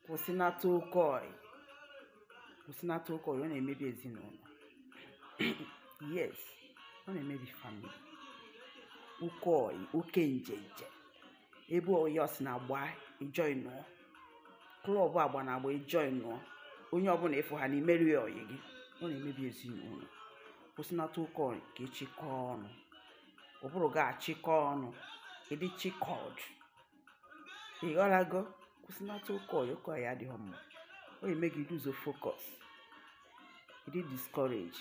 kwụsịnata oke ọyị kwụsịnata oke ọyị ọ na-emebi ezinụlọ yes ọ na-emebi family oke ọyị oke njenje ebe ọyị ọ sị na agba ị joinuọ club agba na agba ị joinuọ onye ọbụla ị fụ ha na imeri ọyị gị ọ na-emebi ezinụlọ kwụsịnata oke ọyị ka ị chịkọọ ọnụ ụbụrụ gị achịkọ ọnụ ị dị chịkọd ị ghọtago kwụsịnata oke ọyị oke ọyị adịghị mma ọ eme gị lose focus ị dị discourage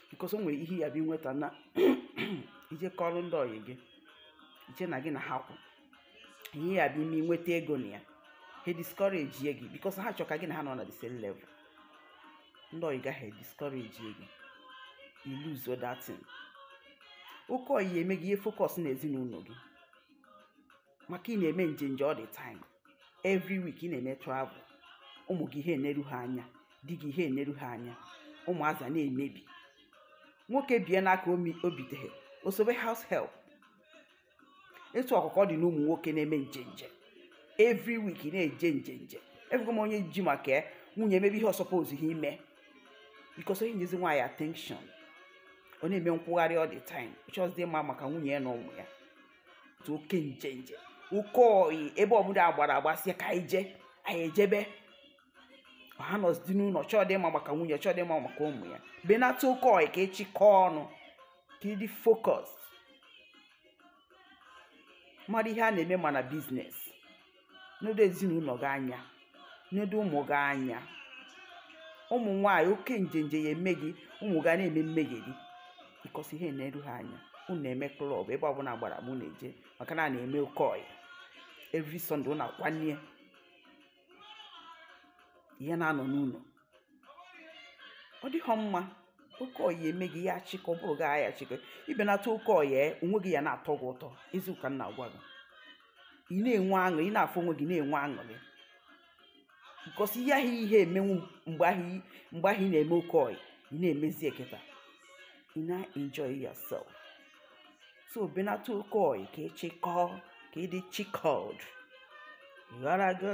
because o nwere ihe ya bụ inweta na i je kọrọ ndị ọyị gị i che na gị na ha kwụ ihe ya bụ ime inweta ego na ya ha discourage ye gị because ha chọ ka gị na ha nọ na the same level ndị ọyị gị ahụ discourage ye gị you lose that thing oke ọyị eme gị i he focus na ezinụlọ gị maka ị na-eme njenje all the time every week ị na-eme travel ụmụ gị i he eneru ha anya di gị i he eneru ha anya ụmụazị na-emebi nwoke bie n'aka o biteghe o sobe house help etu ahụ ka ọ dị n'ụmụ nwoke na-eme njenje every week ị na-eje njenje afụgo m onye ji maka ya nwunye emebe ihe ọ supposughị ime because o he enyezi nwaanyị attention ọ na-eme nkwụgharị all the time chọzi ịma maka nwunye ya na ụmụ ya otu oke njenje oke oyi ebe ọbụla agbara agba sị ka anyị jee anyị ejebe ọ ha anọzidi n'ụlọ ọ chọdị ịma maka nwunye chọdị ịma maka ụmụ ya benata oke oyi ka ị chịkọọ ọnụ ka ị dị focus mara ihe a na-eme ma na business nedo ezinụlọ gị anya nedo ụmụ gị anya ụmụ nwaanyị oke njenje ya eme gị ụmụ gị a na-eme mmegheri because i he eneru ha anya unu na-eme club ebe ọbụla gbara mụ na-eje maka na a na-eme oke ọyị every Sunday unu akwanye i he na-anọ n'ụlọ ọ dịghọ mma oke ọyị eme gị ya achịkọ ụbụrụ gị agha achịkọ i benata oke ọyị onwe gị ya na-atọ gị ụtọ eziokwu ka m na-agwa gị ị na-enwe aṅụ ị na-afụ onwe gị na-enwe aṅụrị because ihe ahụ i he emenwu mgbe ahụ ị- mgbe ahụ ị na-eme oke ọyị ị na-emezi ya kịta ị na-enjoy yourself so benata oke ọyị ka ị chịkọọ ka ị dị chikọd ghara gị